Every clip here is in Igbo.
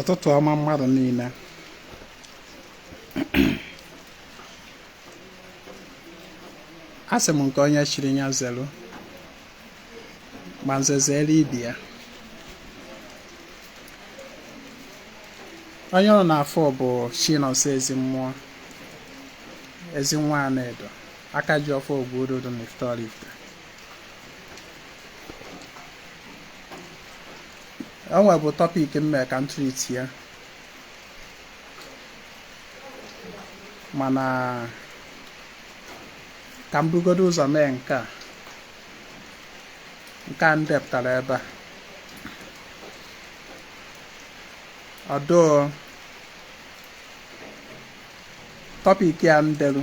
ụtụtụ ọma mmadụ niile asị m nke onye chiri ya zelu ma nze zere ibe ya onye unu na-afụ bụ chinonso ezi mmụọ ezi nwa anaedo aka ji ọfọ ogwu ododo na ifite oraifite o nwebu topic mme ka m treat ya mana ka m bugodo ụzọ mee nke a nke a m depụtara ebe a ọdụ topic ya m delu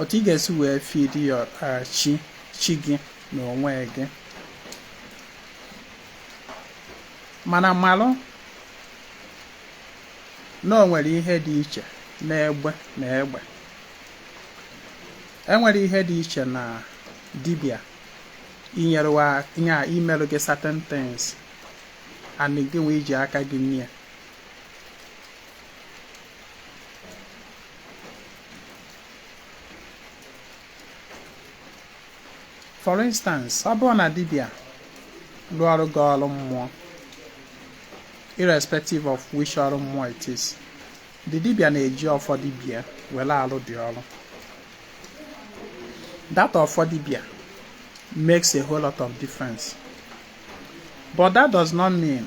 otu ị ga-esi wee feed your uh, chi chi gị na onwe gị mana malụ na o nwere ihe dị iche na egbe na egbe enwere ihe dị iche na dibia inyerewa ihe a imerụ gị certain things and gị nwa iji aka gị nye for instance ọ bụrụ na dibia lụọrụ gị ọrụ mmụọ irrespective of which ọrụ mmụọ it is the dibia na-eji ọfọ dibia were alụ the ọrụ that ọfọ dibia makes a whole lot of difference but that does not mean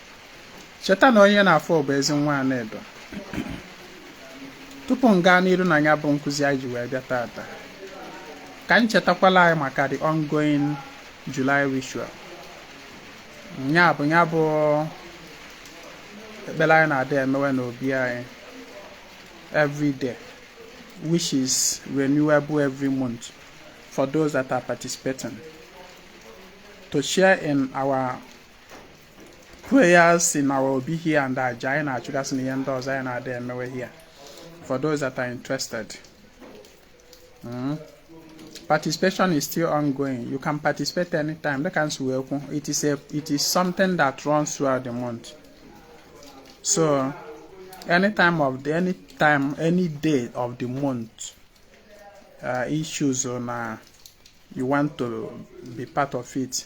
cheta na onye unu na-afụ bụ ezi nwa Anaedo tupu m gaa n'iru na ya bụ nkụzi anyị ji wee bịa tata ka anyị chetakwala anyị maka the ongoing July ritual ya bụ ya bụ ekpere anyị na-adị emewe n'obi anyị every day which is renewable every month for those that are participating to share in our prayers in our obi here and aja anyị na-achụgasị na ihe ndị ọzọ anyị na-adị emewe here for those that are interested mm. participation is still ongoing you can participate anytime dịka m si wee kwu it is a it is something that runs throughout the month so any time of the any time any day of the month uh, issues on uh, you want to be part of it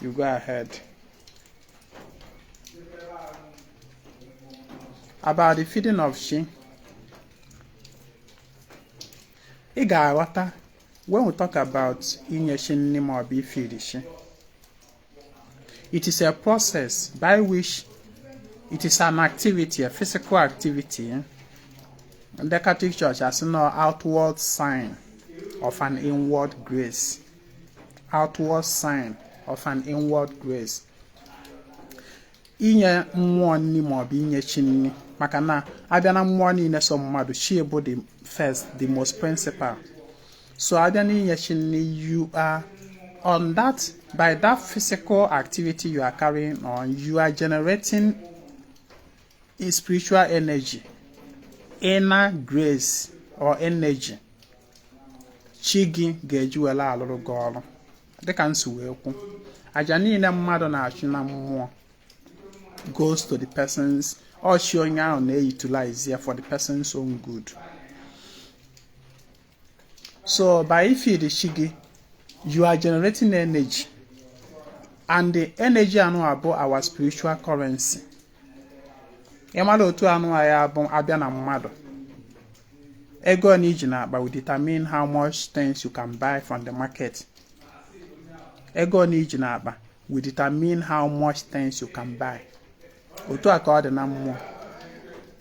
You go ahead. About the feeding of she. Ị ga-aghọta when we talk about inye shi nri ma ọ bụ ifiri shi. It is a process by which it is an activity, a physical activity. Eh? The Catholic Church has no outward sign of an inward grace. outward sign of an inward grace inye mmụọ nni maọbụ inye chi nni maka na a bịa na mmụọ niile so mmadụ chi bụ the first the most principal so a bịa na inye chi nni you are on that by that physical activity you are carrying on you are generating a spiritual energy inner grace or energy chi gị ga-eji were alụrụ gị ọrụ dịka m si wee kwu aja niile mmadụ na-achụ na mmụọ goes to the person's ọ chi onye ahụ na-eutilize ya for the person's own good So by ifeed chi gị, you are generating energy. And the energy anụa bụ our spiritual currency. Ị mara otu anụa bụ a bịa na mmadụ. Ego one i ji n'akpa will determine how much things you can buy from the market. Ego one i ji n'akpa will determine how much things you can buy. Otu a ka ọ dị na mmụọ.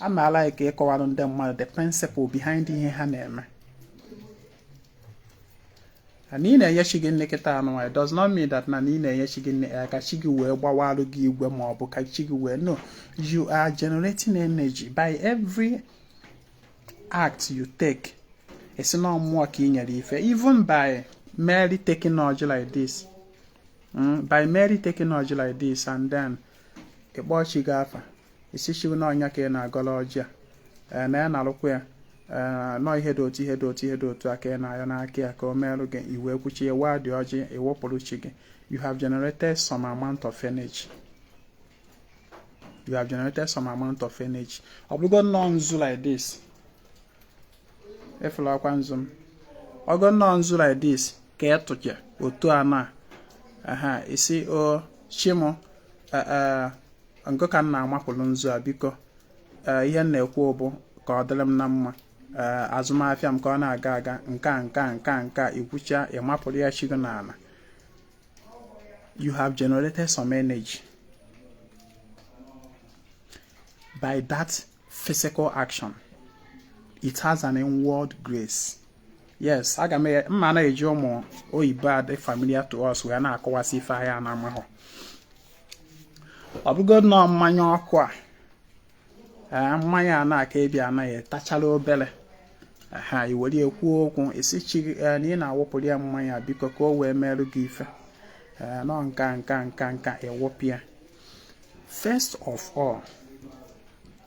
ana m alike ịkọwara ndị mmadụ the principle behind ihe ha na-eme na ị na-enye chi gị nni kịta anụnwa it does not mean that na ị na-enye chi gị nni ka chi gị wee gbawarụ gị igwe ma ọ bụ ka chi gị wee no you are generating energy by every act you take ị sị na mmụọ ka ị nyere ife even by merely taking ọjị like this hmm, by merely taking ọjị like this and then ị kpọọ chi gị afa ị sị chi na ọ nya ka ị na-agọlụ ọjị a ee na ya na-alụkwa ya ee na ọ ihe dị otu ihe dị otu ihe dị otu a ka ị na-ayọ n'aka ya ka o merụ gị i wee kwuchaa waa dị ọjị ị wụpụrụ chi gị you have generated some amount of energy you have generated some amount of energy ọ bụrụgo nnọọ nzu like this ị fụlụkwa nzu m ọgo nnọọ nzu like this ka ị tụcha otu a n'ana ị sị o chi mụ ngị ka m na-amapụlụ nzu a biko eh, ihe m na-ekwu bụ ka ọ dịrị m na mma eh, azụmafịa m ka ọ na-aga aga nka nka nka nka i kwuchaa ị mapụrụ ya chi gị n'ana you have generated some energy by that physical action it has an inward grace yes aga m ama na-eji ụmụ oyibo a dị familiar to us wee na-akọwasị ife anyị na-ekwu ọ bụgodu nụ mmanya ọkụ a ee mmanya a na-aka ebi anaghị etachala obere ha i were ekwu okwu ị sị chi na ị na-awụpụrụ ya mmanya biko ka o wee merụ gị ife ee nọ nka nka nka nka ị wụpụ ya first of all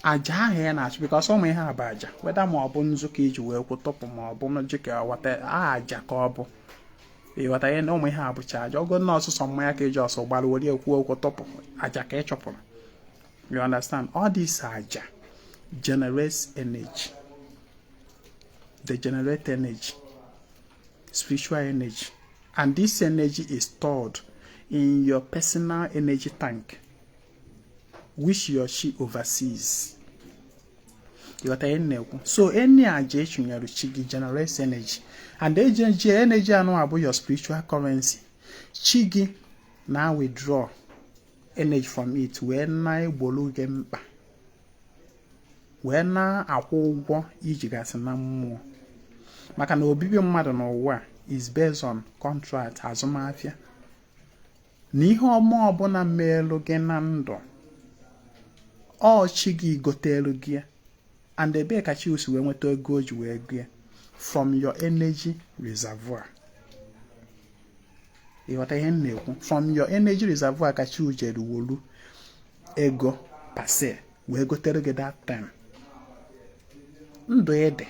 aja ahụ ya na-achụ because ụmụ ihe a bụ aja whether ma ọ bụ nzu ka i ji wee kwuo tụpụ ma ọ bụ ọjị ka wata aja ka ọ bụ ịghọta ihe na ụmụ ihe a bụcha aja ogo na ọ sọsọ mmanya ka e ji ọsọ gbara were ekwu okwu tụpụ aja ka ị chụpụrụ you understand all this aja generates energy they generate energy spiritual energy and this energy is stored in your personal energy tank which your chi oversees ịghọta ihe m na-ekwu so any aja a chụnyere chi gị generates energy and energy anwa bụ your spiritual currency chi gị na withdraw energy from it wee na-egbolu gị mkpa wee na-akwụ ụgwọ i jigasị na mmụọ maka na obibi mmadụ n'ụwa is based on contract azụmahịa na ihe ọma ọbụla meelu gị na ndụ ọ chi gị gotelu gị and ebee ka chi gị si wee nweta ego o ji wee gị from your energy reservoir ịghọta ihe m na-ekwu from your energy reservoir ka chi gị jere wolu ego per se wee gotere gị that time ndụ ị dị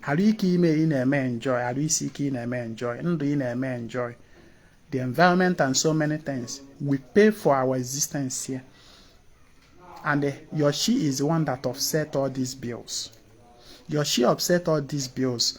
arụ ike ime ị na-eme enjoy arụ isi ike ị na-eme enjoy ndụ ị na-eme enjoy the environment and so many things we pay for our existence here and uh, your chi is the one that offset all these bills your chi offset all these bills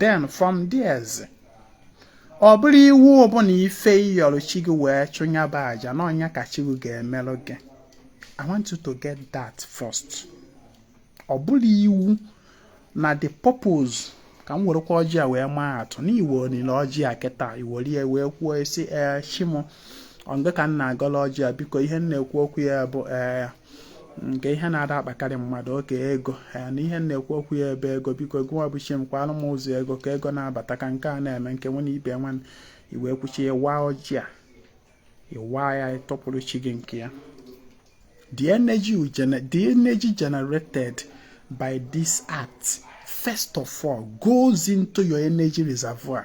then from there ọ bụrọ iwu ọ bụ na ife ị yọrọ chi gị wee chụnyaba aja na ọ nya ka chi gị ga-emeru gị i want you to get that first ọ bụrọ iwu na the purpose ka m werekwa ọjị a wee maa atụ na i welie ọjị a kịta i welie wee kwuo sị ee eh, chi m ọ gị ka m na-agọlụ ọjị a biko ihe m na-ekwu okwu ya bụ ee eh, nke ihe na-ada akpakarị mmadụ oke ego ya na ihe m na-ekwu okwu ya ebe ego biko gịnwa bụ chi m kwaalụ m ụzọ ego ka ego na-abata ka nke a na-eme nke nwe na ibe nwa i wee kwuchaa ị waa ọjị a ị waa ya ị tụpụrụ chi gị nke ya the energy generated by this act first of all goes into your energy reservoir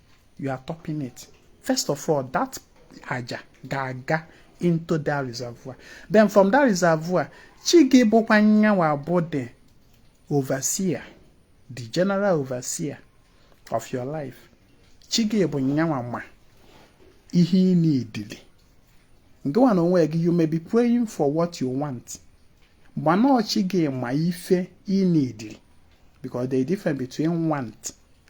you are topping it first of all that aja ga-aga into that reservoir then from that reservoir chi gị bụkwa nyanwa bụ the overseer the general overseer of your life chi gị bụ nyanwa ma ihe ị needili gịnwa na onwe gị you may be praying for what you want mana ọ chi gị ma ife ị needili because there is difference between want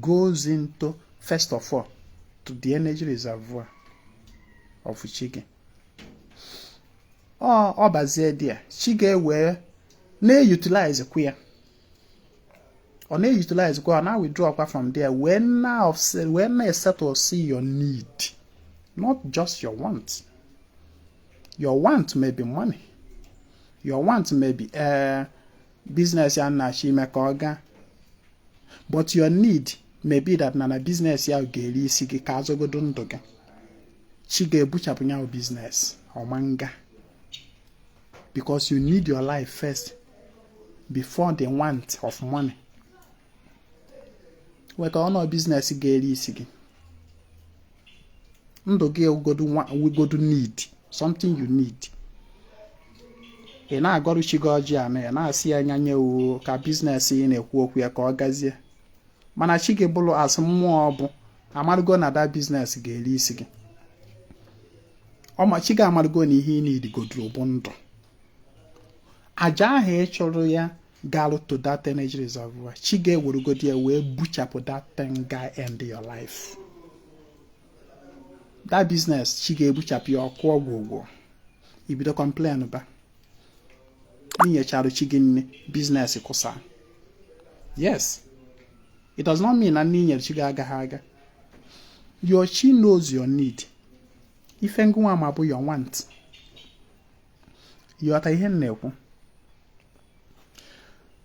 goes into first of all to the energy reservoir of chi gị ọ bazie there chi gị ewere na-eutilize kwa ya ọ na-eutilize kwa ọ na-withdraw kwa from there wee na-esettlesi your need not just your want your want may be money your want may be uh, business ya na-achọ ime ka ọ gaa but your need may be that na na business ya ga-eri isi gị ka a zọgodu ndụ gị chi gị ebuchapụ ya bụ business ọ ma nga because you need your life first before the want of money maka ọnụ business ga-eri isi gị ndụ gị bụ godu need something you need ị na-agọrụ chi gị ọjị anụ ya na-asị ya anya nye uwe ka business ị na-ekwu okwu ya ka ọ gazie mana chi gị bụrụ as mmụọ ọ bụ amarụgo na that business ga-eri isi gị ọ ma chi gị amarụgo na ihe ị needigoduru bụ ndụ aja ahụ ị chụrụ ya garụ to that energy reservoir chi gị ewerugodi ya wee buchapụ that thing ga-end your life that business chi gị ebuchapụ ya okwu agwụgwo i bido complain ba i nyechara chi gị nni business kụsaa yes it does not mean na nni i nyere chi gị agaghị aga your chi knows your need ife ngụnwa ma bụ your want ghọta ihe m na-ekwu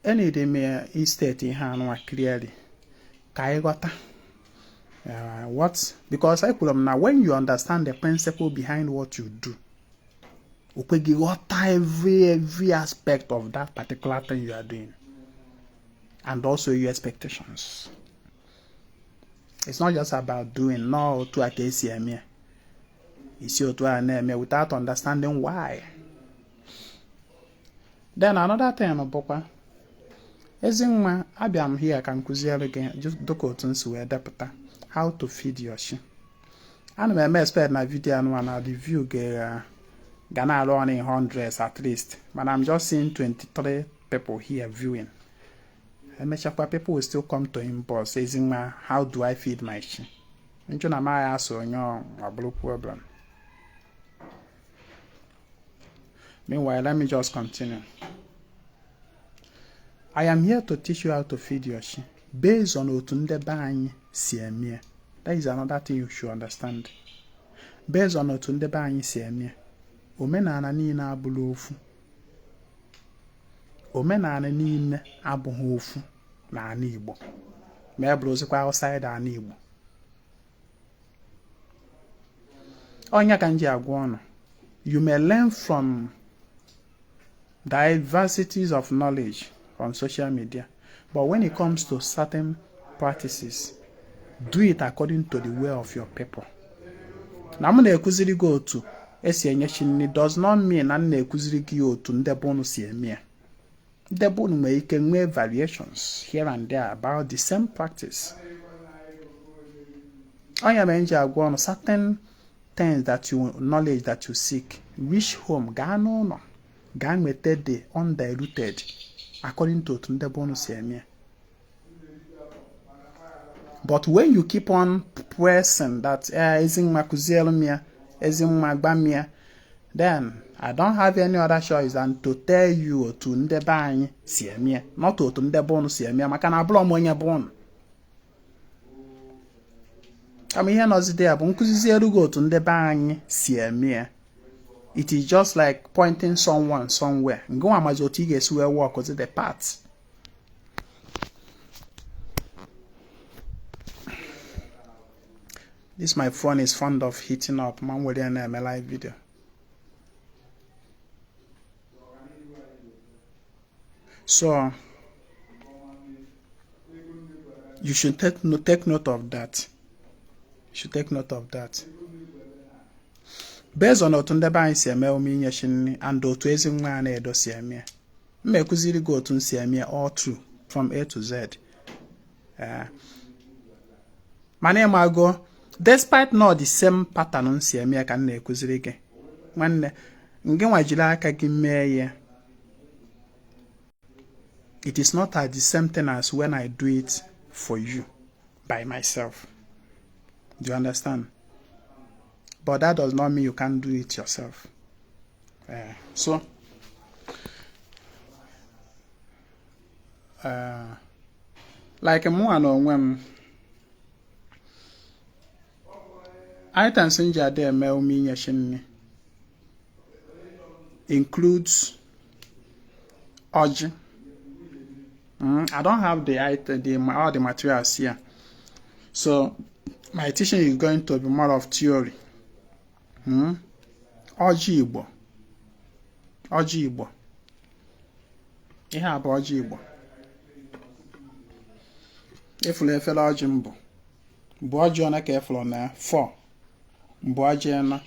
eneedi m istate ihe anụwa clearly ka ị ghọta uh, what because ekwuru m na when you understand the principle behind what you do o kwe gị ghọta every every aspect of that particular thing you are doing and also your expectations it's not just about doing na ọ otu a ka e si eme ya i si otu a na-eme without understanding why then another thing bụkwa Ezinwa abịa m here ka m kụziere gị dịka otu m si wee depụta how to feed your chi ana m e-expect na video anụwa na the view ga na-arun in hundreds at least mana I'm just seeing 23 people here viewing emechakwa people will still come to inbox Ezinwa how do I feed my chi m jụ na m aya asa onye ọ bụrụ problem meanwhile let me just continue I am here to teach you how to feed your chi based on otu ndị be anyị si emie that is another thing you should understand based on otu ndị be anyị si emie omenala niile abụrọ ofu omenani niile abụghị ofu n'ani Igbo ma ya bụrụzikwa outside ani Igbo ọ nya ka m ji agwa unu you may learn from diversities of knowledge on social media But when it comes to certain practices, do it according to the way of your people. na m na-ekuziri gị otu e si enye chi nri does not mean na m na-ekuziri gị otu nde be unu si eme ya nde be unu nwere ike nwee variations here and there about the same practice ọ nya mere m ji agwa unu certain things that you knowledge that you seek reach home gaa n'ụnọ gaa nweta the undiluted according to otu nde be unu si eme ya but when you keep on pressing that eh, Ezinwa kụziere m ya Ezinwa gwa m ya then I don't have any other choice than to tell you otu nde be anyị si eme ya not otu nde be unu si eme ya maka na abụrọ m onye be unu kama ihe nọzide ya bụ m kụziziere gị otu ndị be anyị si eme ya it is just like pointing someone somewhere ngị nwa amazie otu ị ga-esi wee walk the path this my phone is fond of heating up ma m were ya na-eme live video So you should take, no, take note of that. You should take note of that. Based on otu nde be anyị si eme omume inye chi nri and otu Ezinwa Anaedo si eme ya. M ekuziri gị otu m si eme ya all through from A to Z. eh. mana ị mago despite na the same pattern m si eme ya ka m na-ekuziri gị nwanne ngị nwa jiri aka gị mee ya it is not the same thing as when I do it for you by myself do you understand but that does not mean you can't do it yourself uh, so eh, like mụnwa na onwe m items m ji adị eme omume inye chi nri includes ọjị mm, I don't have the item, the, all the materials here so my teaching is going to be more of theory hmm? ọjị Igbo ọjị Igbo ihe a bụ ọjị igbo ị fụlụ efere ọjị m bu bụ ọjị one ka ị fụlụ na four bụ ọjị na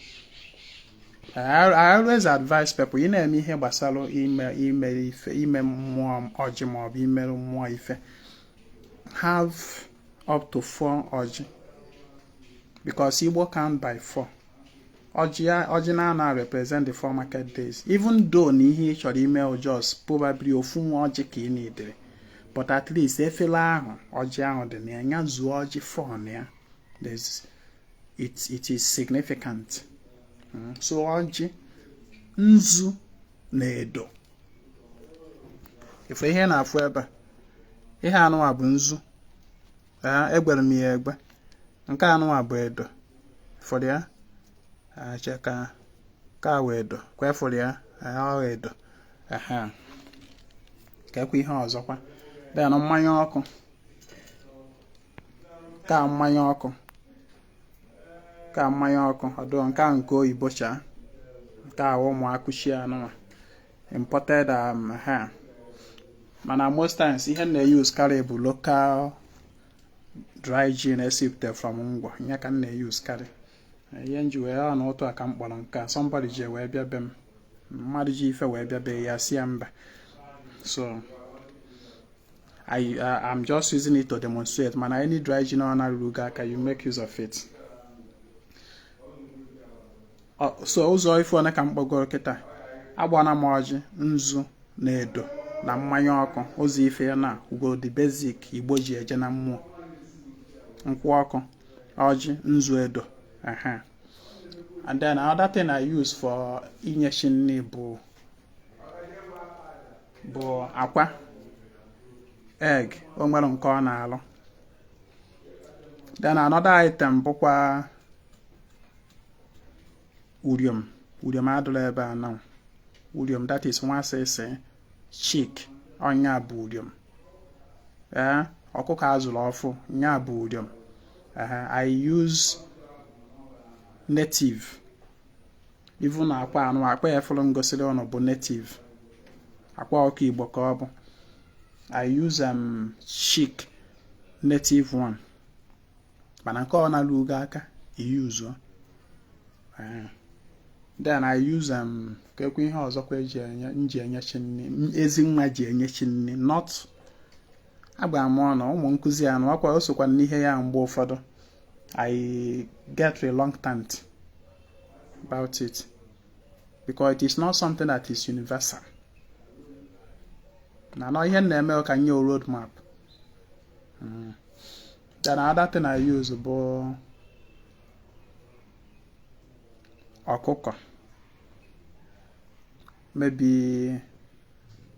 I always advise people ị na-eme ihe gbasara ime ime ife ime mmụọ ọjị maọbụ imerụ mmụọ ife have up to four ọjị because Igbo count by four ọjị n'anọ a represent the four market days even though na ihe ị chọrọ ime just probably ofu nwa ọjị ka ị needịrị but at least efere ahụ ọjị ahụ dị na ya nya zuo ọjị four na ya it it is significant hmm, so ọjị nzu na edo ife ihe ị na-afụ ebe a ihe anụwa bụ nzu ee egwere m ya egwe nke anụwa bụ edo fụrụ ya acha ka ka wee edo ka ị fụrụ ya ọgha edo ehe ka ekwe ihe ọzọkwa then mmanya ọkụ ka mmanya ọkụ ka mmanya ọkụ ọ dụ nke a nke oyibo chaa nke a ụmụ akụchi anụnwa imported um, ha mana most times ihe m na-use karị bụ local dry gin esipute from ngwọ nya ka m na-use karị ihe m ji wee ya na otu a ka m kpọrọ nke a somebody ji wee bịa be m mmadụ ji ife wee bịa be ya sị ya mba so I, uh, I'm just using it to demonstrate mana any dry gin ọbụna ruru gị aka you make use of it so ụzọ ife one ka m kpọgoro kịta agbana m ọjị nzu na edo na mmanya ọkụ ụzọ ife ya na bụgo the basic igbo ji eje na mmụọ nkwụ ọkụ ọjị nzu edo aha and then another thing I use for inye chi nri bụ bụ akwa egg o nwere nke ọ na-alụ then another item bụkwa uriom uriom adịrọ ebe a now uriom that is nwa sịsị chick ọ nya bụ uriom ee ọkụkọ a zụrụ ọfụụ nya bụ uriom I use native even akwa anụ akwa ị fụrụ m gosiri ụnụ bụ native akwa ọkụkọ igbo ka ọ bụ I use um chick native one mana nke ọ na-alụ ugo aka iyuzuo then I use um, kekwa ihe ọzọkwa eji enye m ji enye chi nni Ezinwa ji enye chi nni not agba m ọnụ ụmụ nkụzi anụ akwa o sokwa n'ihe ya mgbe ụfọdụ I get reluctant about it because it is not something that is universal na nọ ihe na-eme ka nye road map Mm. Then another thing I use bụ ọkụkọ maybe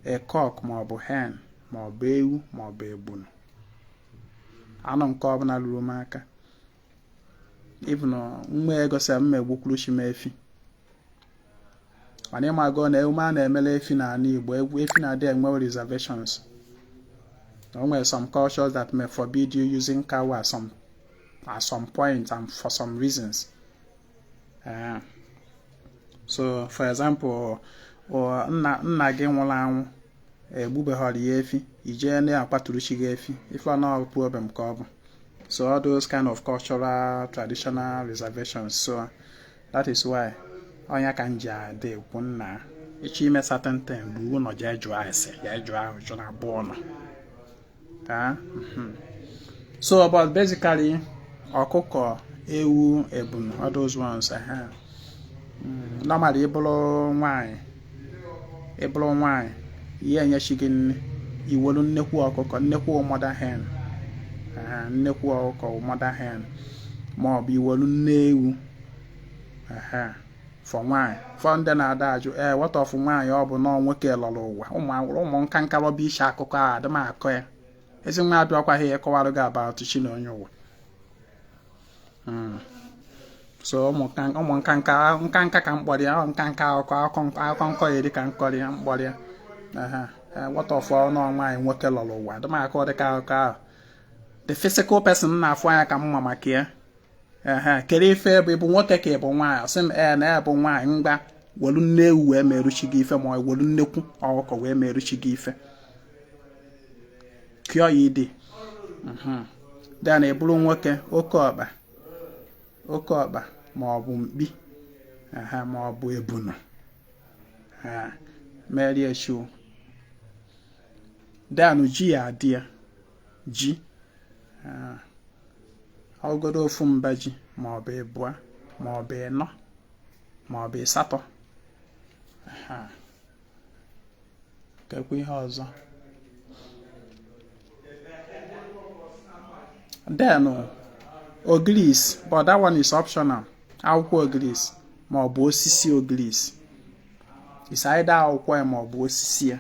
a cock maọbụ hen maọbụ ewu maọbụ ebunu anụ nke ọbụla luru m aka even m nwee ego sị m egbukwuru chi m efi mana ị mago na emume a na-emele efi n'ala Igbo igbu efi na-adị enwe reservations o nwere some cultures that may forbid you using cow at some, at some point and for some reasons uh, so for example nna nna gị nwụrụ anwụ egbubeghọrọ ya efi i jee na-akpatụrụ chi gị efi ị fụ na ọ problem ka ọ bụ so all those kind of cultural traditional reservations so that is why ọ ya ka m ji adị ekwu na ị chọọ ime certain thing ruo ụnọ jee jụọ ase jee jụọ ajụjụ na be unu taa hmm. so but basically ọkụkọ ewu ebunu all those ones ha hmm. normally ị bụrụ nwanyị ị bụrụ nwanyị ị ya-enye chi gị nni i welu nnekwu ọkụkọ nnekwu mother hen nnekwu ọkụkọ mother hen ma ọ bụ i welu nne ewu for nwaanyị for ndị na-adị ajụ ee eh, what of nwaanyị ọ bụ na ọ nwoke lọrọ ụwa ụmụ nka nka rọba iche akụkọ a adị m akọ ya Ezinwa abịakwaghị ịkọwara gị about chi na onye ụwa hmm. so ụmụ nka nka nka nka ka mkpọrọ ya nka nka akụkọ akụkọ nkọ ya dị ka nkọrị ya mkpọrọ ya what of ọnụ nwaanyị nwoke lọrọ ụwa adị m akọ dị ka akụkọ ahụ the physical person na-afụ anya ka m ma maka ya ehe kedu ife ị bụ ị bụ nwoke ka ị bụ nwaanyị sị m ee na ya bụ nwaanyị ngwa welu nne ewu wee meru chi gị ife ma ọ welu nnekwu ọkụkọ wee meru chi gị ife kụọ ya idi mhm. then ị bụrụ nwoke oke ọkpa oke ọkpa ma ọ bụ mkpi ma ọ bụ ebunu merie chi then o ji ya adị ya ji ah, ọgọdọ ofu mba ji ma ọ bụ ịbụa ma ọ bụ ịnọ ma ọ bụ ịsatọ kekwa ihe ọzọ then ogirisi but that one is optional akwụkwọ ogirisi ma ọ bụ osisi ogirisi is either akwụkwọ ya ma ọ bụ osisi ya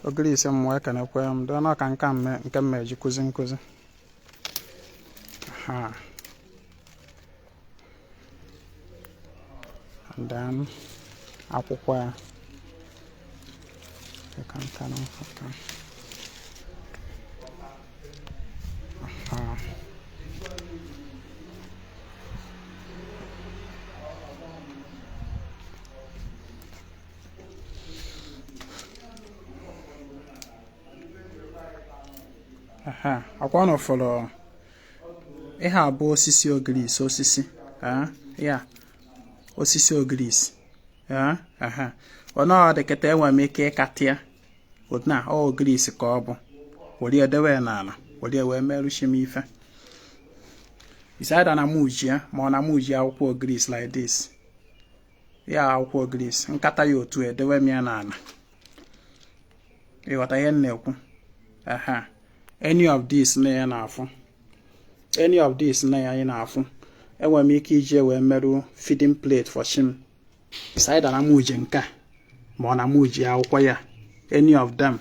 ogirisi mmụọ ekenekwe m dịọ na ọka nka mme nke m eji akụzi nkụzi Aha. And then akwụkwọ ya. You can turn off of them. Aha. ọkwa unu fụrụ ihe a bụ osisi ogirisi osisi ya osisi ogirisi ọ nọdị kịta enwere m ike ịkata ya na ọ ogirisi ka ọ bụ were dewe n'ana were wee merụ chi m ife is either na mụ ejie ma ọ na mụ ejie akwụkwọ ogirisi like this ya akwụkwọ ogirisi m kata ya otu edewe m ya n'ana ị ghọta ihe m na-ekwu aha any of this na ya na-afụ any of this na ya anyị na-afụ enwere m ike iji wee merụ feeding plate for chi m is either na mụ eji nke a ma ọ na mụ eji akwụkwọ ya any of them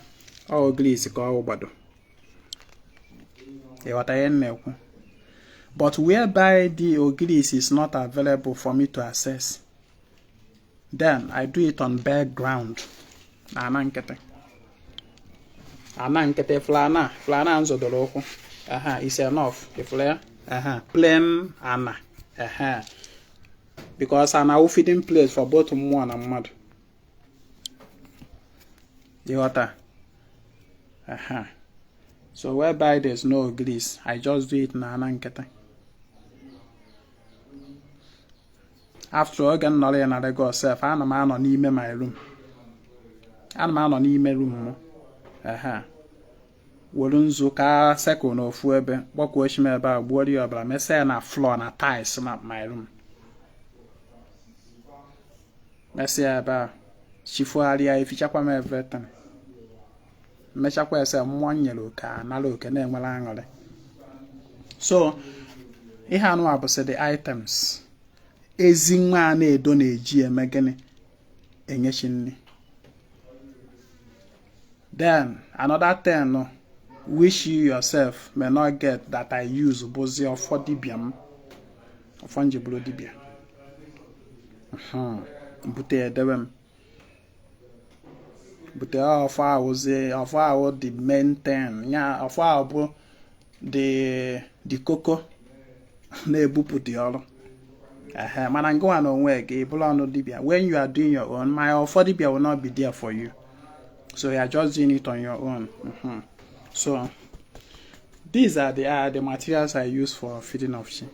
ọ ogirisi ka ọ gbado ị ghọta ihe m na-ekwu but whereby the ogirisi is not available for me to access then i do it on bare ground na ana nkịtị ana nkịtị floor ana floor ana m zọdoro ụkwụ aha is enough ị fụla ya aha plain ana aha because ana wụ feeding place for both mmụọ na mmadụ ị ghọta aha so whereby there's no ogirisi i just do it na ana nkịtị after oge m nọrọ ya na Lagos sef ana m anọ n'ime my room ana m anọ n'ime room m ehe were nzu ka circle na ofu ebe kpọkuo chi m ebe a gbuoro ya ọbara mesaa ya na floor na tiles na my room mesịa ebe a chi fugharịa efichakwa m everything m mechakwa ese mmụọ m nyere oke anara oke na-enwere aṅụrị so ihe anụwa bụsị the items ezi nwa Anaedo na-eji eme gịnị enye chi nri then another thing which you yourself may not get that I use bụzi ọfọ dibịa m ọfọ m ji bụrụ dibịa hmm, m bute edewe m bute ọfọ ahụzi ọfọ ahụ the main thing ya ọfọ ahụ bụ the koko na-ebupụta ọrụ ehe mana ngịwa n'onwe gị abụrọnụ dibịa when you are doing your own my ọfọ dibịa will not be there for you so you are just doing it on your own mm -hmm. so these are the, are the materials I use for feeding of chi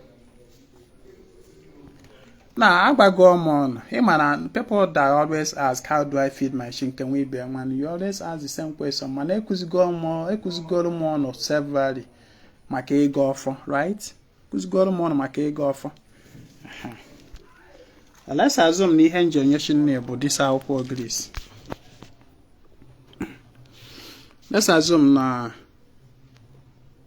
na agwago m ụnụ ị ma na people that always ask how do I feed my chi can we be man you always ask the same question mana ekụzigo ọmụ ekụzigoro m ụnụ severally maka ịgọ ọfọ right kụzigoro m ụnụ maka ịgọ ọfọ let's assume na ihe m ji enye chi nri bụ this akwụkwọ ogirisi let's assume na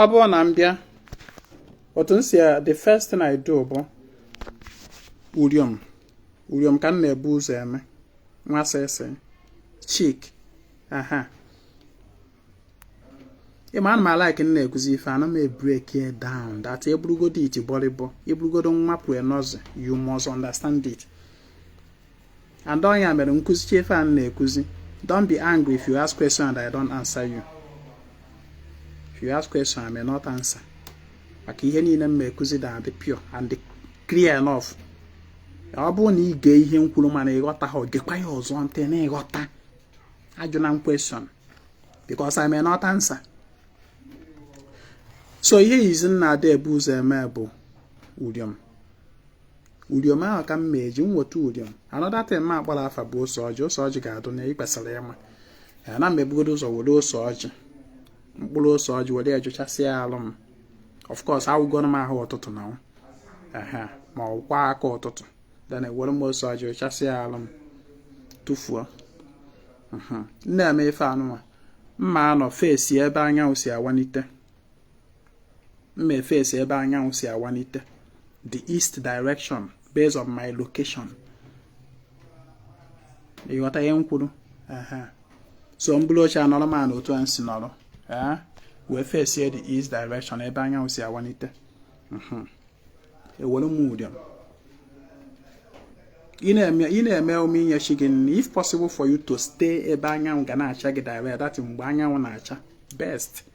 ọ bụrụ na m bịa otu m si the first thing I do bụ uriom uriom ka m na-ebu ụzọ eme nwa sịsị chick aha ị ma ana m alike m na-ekuzi ife ana m ebreak ya down that ị bụrụgodu iti bọrịbọ ị bụrụgodu nwa pụọ nọzi you must understand it and ọ nya mere m kụzichee ife a m na-ekuzi don't be angry if you ask question and I don't answer you if you ask question I may not answer maka ihe niile m na-ekuzi da-adị pure and clear enough ọ bụrụ na ị gee ihe m kwuru mana ị ghọtaha gekwa ya ọzọ ntị na ị ghọta ajụna m question because I may not answer so ihe izi m na-ada ebu ụzọ eme bụ uriom uriom ahụ ka m ma-eji m weta uriom another thing ma akpọrọ afa bụ ose ọjị ose ọjị ga-adụ na ịkpesara ị ma ana m ebugodo ụzọ were ose ọjị mkpụrụ ose ọjị were ya jụchasịa alụ m of course awụgoro m ahụ ụtụtụ na aha ma ọ kwa aka ụtụtụ then ewere m ose ọjị jụchasịa alụ m tụfuo m na-eme ife anụnwa m ma-anọ face ebe anyanwụ si awalite m na-efesi ebe anyanwụ si awanite the east direction based on my location ị ghọta ihe m kwuru so m buru oche anọrọ m otu a m si nọrọ wee fesie the east direction ebe anyanwụ si awanite mhm. ewere m uriom ị na-eme emume inye chi gị nri if possible for you to stay ebe anyanwụ ga na-acha gị direct that mgbe anyanwụ na-acha best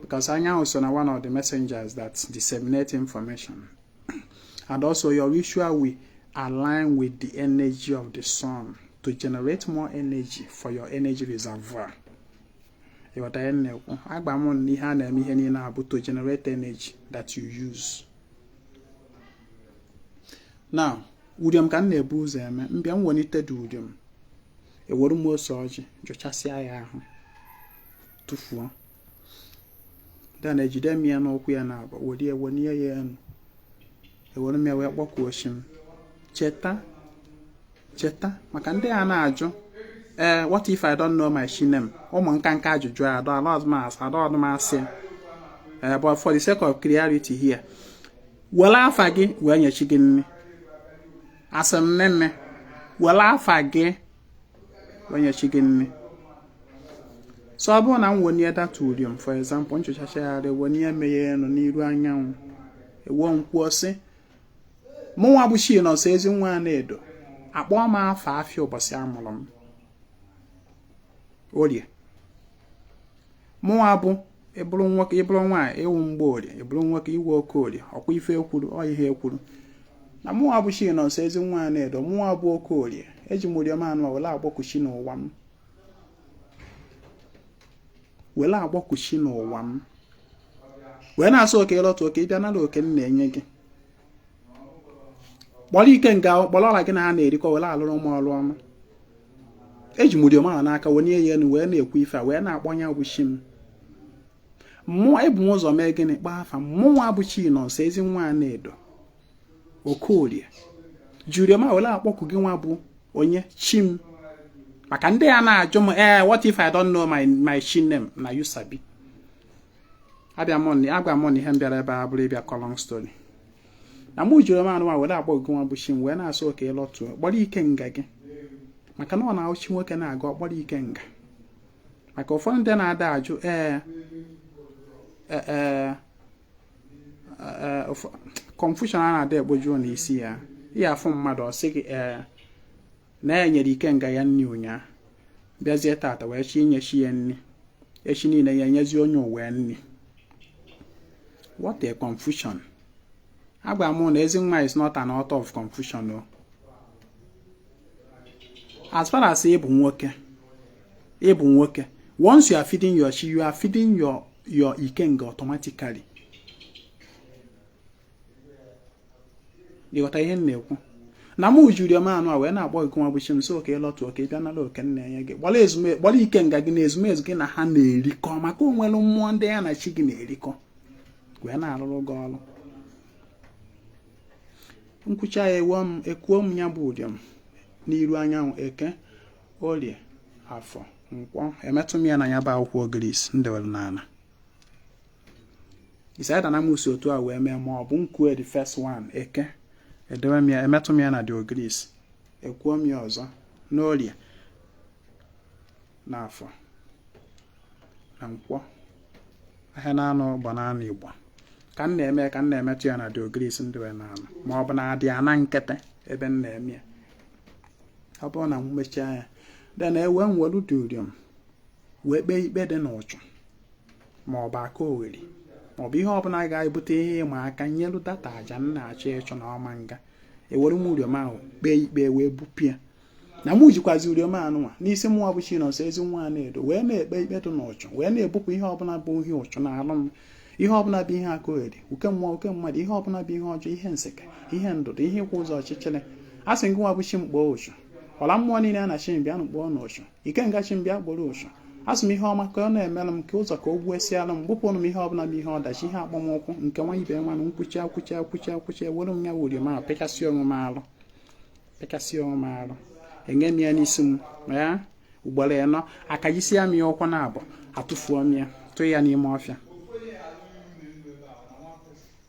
because anyanwụ so na one of the messengers that disseminate information and also your ritual will align with the energy of the sun to generate more energy for your energy reservoir ị ghọta ihe m na-ekwu agwa m na ihe a na-eme ihe niile a bụ to generate energy that you use now uriom ka m na-ebu ụzọ eme m bịa m welite the uriom ewere m ose ọjị jụchasịa ya ahụ tụfuo then ejide m ya n'ụkwụ ya naabọ were ya wenye ya enu ewere m ya wee kpọkuo chi m cheta cheta maka ndị a na-ajụ ee eh, what if I don't know my chi name ụmụ nka nka ajụjụ a dọ ala ọdụmasị ada ọdụmasị ya eh, but for the sake of clarity here were afa gị wee nye chi gị nni asị m nne nne were afa gị wee nye chi gị nni so ọ bụrụ na m wenye that uriom for example m jụchachaa ya arụ ewenye m ya enu n'iru anyanwụ ewee m kwuo sị mụnwa bụ chinọnso ezi nwa anaedo akpọọ m afa afịa ụbọchị a mụrụ m orie mụnwa bụ ị bụrụ nwoke ị bụrụ nwaanyị ị wụ mgborie ị bụrụ nwoke ị wụ okorie ọkwa ife e kwuru ọ ihe e kwuru na mụnwa bụ chinọnso ezi nwa anaedo mụnwa bụ okorie eji m uriom a nụ were akpọku chi n'ụwa m were akpọku chi n'ụwa m wee na-asị o ka ị lọtụ o ka ị bịa nara oke m na-enye gị kpọrọ ikenga kpọrọ ọla gị na ha na-erikọ were alụrụ m ọrụ ọma eji m uriom a n'aka wenye ya enu wee na-ekwu ife a wee na-akpọ nya bụ chi m mụnwa ebu m ụzọ mee gịnị kpọọ afa mụnwa bụ chinọnso ezi nwa anaedo okorie ji uriom a were akpọku gịnwa bụ onye chi m maka ndị a na-ajụ m ee eh, what if I don't know my my chi name na you sabi agwa m unu na ihe m bịara ebe a abụrọ ịbịa kọ long story na mụ ji uriom a nụwa were akpọku gịnwa bụ chi m wee na-asị o ka ị lọtụọ kpọrọ ikenga gị maka na ọ na-awụ chi nwoke na-aga ọ kpọrọ ikenga maka ụfọdụ ndị na-ada ajụ ee e, e, e, confusion a na-ada egbojuo n'isi ya ihe afụ mmadụ ọ sị gị ee na ya nyere ikenga ya nri ụnyaa bịazie tata wee chi inye chi ya nri echi niile ya enyezi onye ụwa nri what a confusion agwa m na Ezinwa is not an author of confusion o as far as ịbụ nwoke ịbụ nwoke once you are feeding your chi you are feeding your your ikenga automatically ịghọta ihe m na-ekwu na mụ ji uriom anụa wee na-akpọ gị nwa bụ chi m sị ka ịlọtụ oke bịa nara oke m na-enye gị gbara ezume gbara ikenga gị na ezumezu gị na ha na-erikọ maka o nwere mmụọ ndị ya na chi gị na-erikọ wee na-arụrụ gị ọrụ m kwuchaa ya ekuo m ya bụ uriom n'iru anyanwụ eke orie afọ nkwọ emetụ m ya na ya bụ akwụkwọ ogirisi m dewere n'ala it's either na mụ si otu a wee mee ma ọ bụ m kue the first one eke edewe m ya emetụ m ya na the ogirisi ekuo m ya ọzọ n'orie n'afọ na nkwọ ahịa na-anọ gba n'ana Igbo ka m na-eme ka m na-emetụ ya na the ogirisi m dewere n'ana ma ọ bụ na the ana nkịtị ebe m na-eme ya ọ bụrụ na m mechaa ya then ewee m welu the uriom wee kpee ikpe dị n'ụchụ ma ọ bụ aka ogheri ma ọ bụ ihe ọbụla ga-ebute ihe ịma aka nyelu that aja m na-achọ ịchụ na ọ ma nga ewere m uriom ahụ kpee ikpe wee bupụ ya na mụ jikwazi uriom anụnwa n'isi mụnwa bụ Chinonso Ezinwa Anaedo wee na-ekpe ikpe dị n'ụchụ wee na-ebupụ ihe ọbụla bụ ihe ụchụ na alụ ihe ọbụla bụ ihe aka ogheri uke mmụọ uke mmadụ ihe ọbụla bụ ihe ọjọọ ihe nseke ihe ndụdụ ihe ịkwụ ụzọ ọchịchịrị a sị gị nwa bụ chi m kpọọ ụchụ ọla mmụọ niile a na-asị bịanụ kpọọnụ ụchụ ikenga chi m bịa gboro ụchụ asị m ihe ọma ka ọ na-emere m ka ụzọ ka o ghesiara m bupụrụ m ihe ọbụla bụ ihe ọdachi ihe akpọmụkwụ nke wa ibe wa na m kwuchaa ewere m uriom ahụ pịkasị onwe m arụ pịkasị onwe m arụ enye m ya n'isi m ugboro ịnọ akajisia m ya ụkwụ naabọ atụfuo m ya tụọ ya n'ime ọfịa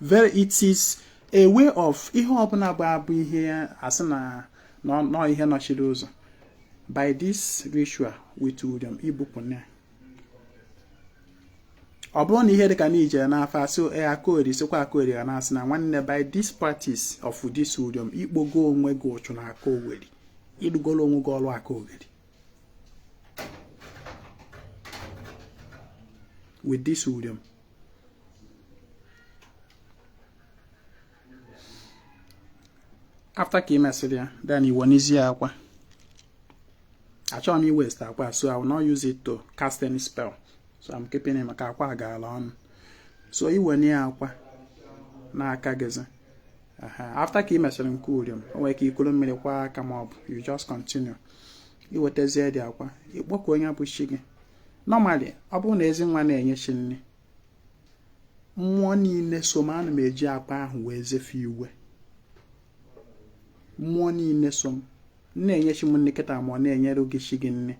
very it is a way of ihe ọbụla bụ abụ ihe a sị na ọ ihe nọchiri ụzọ by this ritual with uriom i bupụna ọ bụrụ na ihe dịka na i je n'afa a sị aka oweri sịkwa aka oweri ka a na-asị na nwanne by this practice of this uriom ị kpọgo onwe gị ụchụ na aka oweri ị rụgoro onwe gị ọrụ aka oweri with this uriom after ka ị mesịrị ya then i wenezie akwa achọghị m ị waste akwa so I will not use it to cast any spell so I'm keeping it maka akwa gaala ọnụ so i wenie akwa n'aka gịzi after ka ị mesịrị nke uriom o nwere ike ikuru mmiri kwọ aka ma ọ bụ you just continue i wetazie the akwa ị kpọkuo onye bụ chi gị normally ọ bụrụ na ezi nwa na-enye chi nri mmụọ niile so m ana m eji akwa ahụ wee zee fa iwe mmụọ niile so m na-enye chi m nri kịta ma ọ na-enyere gị chi gị nri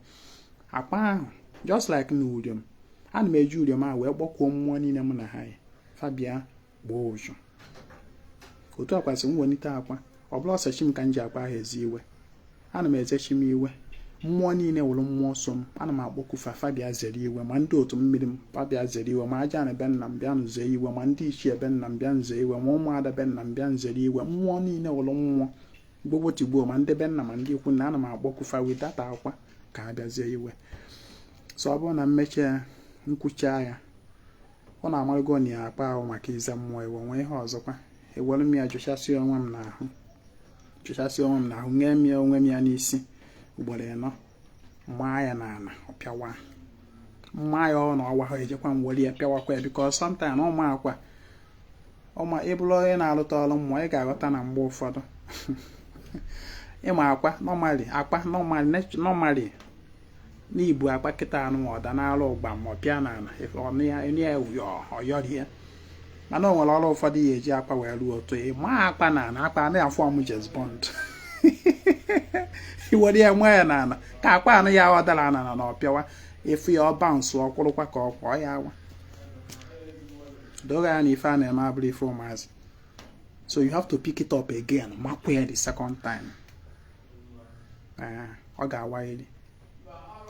akwa ahụ just like na uriom ana m eji uriom ahụ wee kpọkuo mmụọ niile m na ha yi fa bịa gbaa ụzọ otu akwa si m welite akwa ọ bụrọ sọ chi m ka m ji akwa ahụ eze iwe ana m eze chi m iwe mmụọ niile wụrụ mmụọ so m ana m akpọku fa fa bịa zere iwe ma ndị otu mmiri m fa bịa zere iwe ma ajana be nna m bịa m ze iwe ma ndị ichie be nna m bịa m ze iwe ma ụmụada be nna m bịa m zere iwe mmụọ niile wụrụ mmụọ gbogbo tigbuo ma ndị be nna ma ndị ikwu nne ana m akpọku fa with that akwa ka ha bịa zee iwe so ọ bụrụ na m mechaa ya m kwuchaa ya ụnụ amarụgo na ya akwa ahụ maka ize mmụọ iwe nwee ihe ọzọkwa ewere m ya jụchasịa onwe m n'ahụ jụchasịa onwe m n'ahụ nye m ya onwe m ya n'isi ugboro ịnọ m maa ya n'ana ọ pịawa m maa ya ọ na ọ wahọ ejekwa m were ya pịawakwa ya because sometime na ịma akwa ma ị bụrụ onye na-alụta ọrụ mmụọ ị ga-aghọta na mgbe ụfọdụ ị ma akwa normally akwa normally normally na i bu akwa kịta anụ ọ daa n'ana gbam ọ pịa n'ana ọnụ ya enye ya ọyọrie mana o nwere ọrụ ụfọdụ a ya-eji akwa wee rụọ otu ị ma akwa n'ana akwa na-aform James Bond i were ya maa ya n'ana ka akwa anụ ya ọ dara ana na ọ pịawa ị fụ ya ọ bounce ọ kwụrụkwa ka ọ kwọọ ya awa dị ka ya na ife a na-eme abụrụ ife ụmụazị so you have to pick it up again makwa ya the second time ee ọ ga-awalili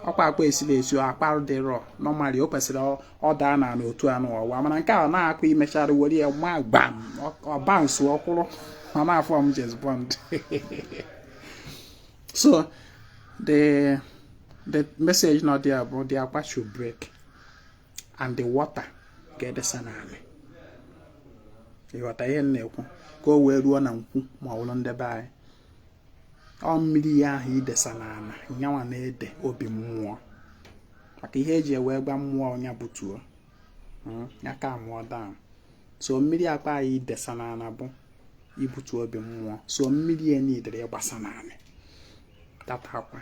ọkwa akwa esiri esi akwa dị raw normally o kwesịrị ọ daa ana otu anụ ọ waa mana nke a na akwa i mechara were ya ma gbam ọ bounce ọ kwụrụ ọ na-aform James Bond so the the message nọ there bụ the akwa should break and the water ga-edesa n'ana ị ghọta ihe m na-ekwu ka o wee ruo na nkwu ma ọ bụrụ ndị be anyị ọ mmiri ya ahụ idesa n'ana ya nwa na-ede obi mmụọ maka ihe eji wee gwa mmụọ ya butuo hmm, ya calmụọ down so mmiri akwa ahụ idesa n'ana bụ ibutu obi mmụọ so mmiri ya needịrị ịgbasa n'ana that akwa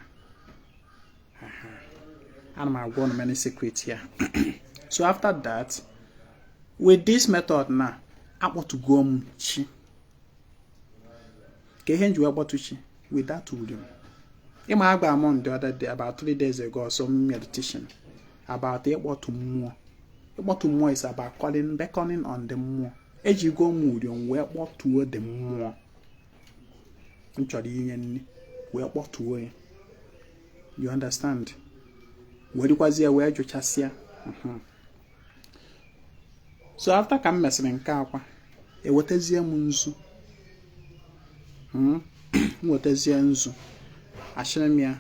ana m agwa ụnụ many secret here so after that with this method na akpọtugo m chi ka ihe m ji wee kpọtụ chi with that uri ị ma agwa m unu the other day about three days ago some meditation about ịkpọtụ mmụọ ịkpọtụ mmụọ is about calling beckoning on the mmụọ ejigo m uri wee kpọtuo the mmụọ m chọrọ inye nri wee kpọtuo ya you understand werekwazie ya wee jụchasịa mhm. so after ka m mesịrị nke akwa ewetazie m nzu hmm? m wetazie nzu achịrị m ya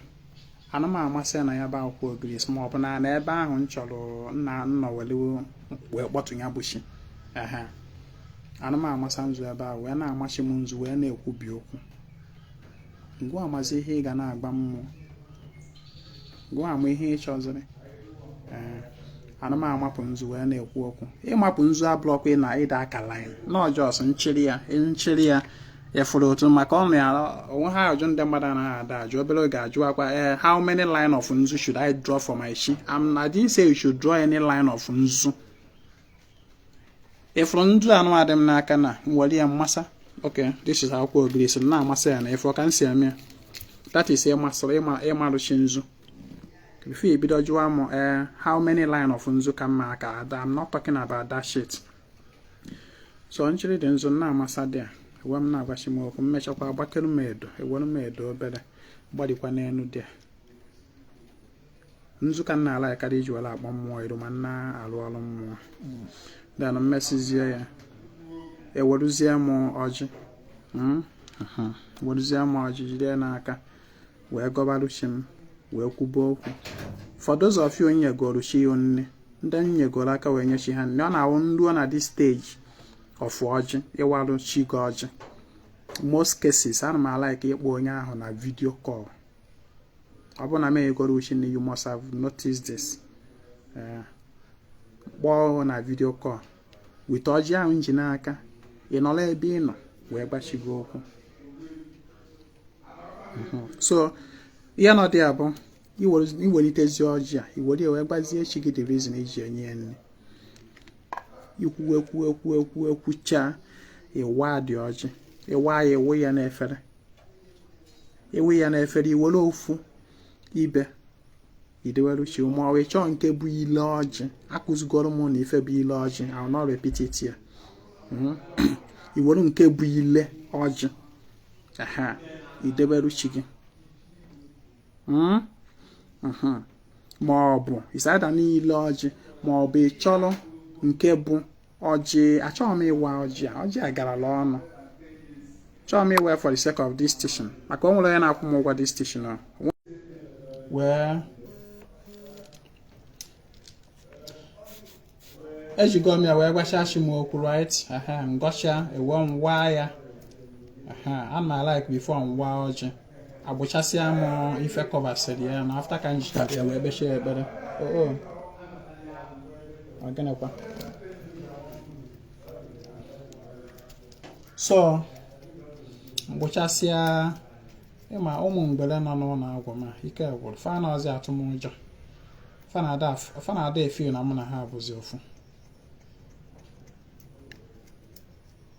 ana m amasa ya na ya bụ akwụkwọ ogirisi ma ọ bụ n'ana ebe ahụ m chọrọ ịnọ were wee kpọtụ ya bụ chi ana m amasa nzu ebe ahụ wee na-ama chi m nzu wee na-ekwubi okwu ngịwa mazi ihe ị ga na-agwa mmụọ gịwa ma ihe ị chọziri ana m amapụ nzu wee na-ekwu okwu ịmapụ nzu abụrọkwa na ị da aka line no just nchịrị ya nchịrị ya ị fụrụ otu maka ọ na onwe ha ajụ ndị mmadụ na-ada ajụ obere oge ajụọkwa ee eh, how many line of nzu should I draw for my chi? I didn't say you should draw any line of nzu ị fụrụ nzu a nụwa dị m n'aka na nwere ya mmasa ok this is akwụkwọ ogirisi na-amasa ya na ị fụrụ ka m si eme ya that is ịmarụ chi nzu before you bido jụwa m ee eh, how many line of nzu ka m ma-aka ada I'm not talking about that shit so nchịrị the nzu na-amasa there ewe m na-agwa chi m okwu m mechakwa agbakere m edo ewere m edo obere gbarịkwa n'elu there nzu ka m na-alike karịa iji were akpọ mmụọ ịrụ ma m na-alụ ọrụ mmụọ then m mesizie ya eweruzie m ọjị hmm? weruzie m ọjị jide n'aka wee gọbarụ chi m wee kwube okwu for those of you nyegoro chi ya nni ndị nyegoro aka wee nye chi ha nni ọ na-awụ m ruo na this stage of ọjị ịwarụ chi gị ọjị most cases ana m alike ịkpọ onye ahụ na video call ọ bụrụ na m enyegoro chi nni you must have noticed this eh, kpọọ na video call with ọjị ahụ m ji n'aka ị nọrọ ebe ị nọ wee gwa chi gị okwu mhm. so ihe nọ there bụ i welitezie ọjị a i were wee gwazie chi gị the reason i ji enye ya nri i kwuwe kwuwe kwuwe kwuwe kwuchaa ị waa the ọjị ị waa ya ị wụọ ya n'efere ị wụọ ya n'efere i were ofu ibe i dewere chi ma ị chọọ nke bụ ile ọjị akụzigoro m unu ife bụ ile ọjị I will not repeat it here hmm? i were nke bụ ile ọjị ahụ i debere chi gị hmm? mhm. ma ọ bụ aside ile ọjị ma ọ bụ ị chọrọ nke bụ ọjị achọghị m ịwa ọjị a ọjị a garala ọnụ chọọ m ịwa for the sake of this station maka o nwere onye na-akwụ m ụgwọ this station ọ wee ejigo m ya wee gwachaa chi m okwu right m gọchaa ewee m waa ya ana m alike before m waa ọjị akpụchasịa m ife kọvasịrị ya na after ka m jicha ya wee kpechie ekpere oo ọgịnịkwa so m kpụchasịa ịma ụmụ mgbere nọ n'ụlọ agwụ ma ike gwụrụ fa anọzi atụ m ụjọ fa na-ada efeel na mụ na ha bụzi ofu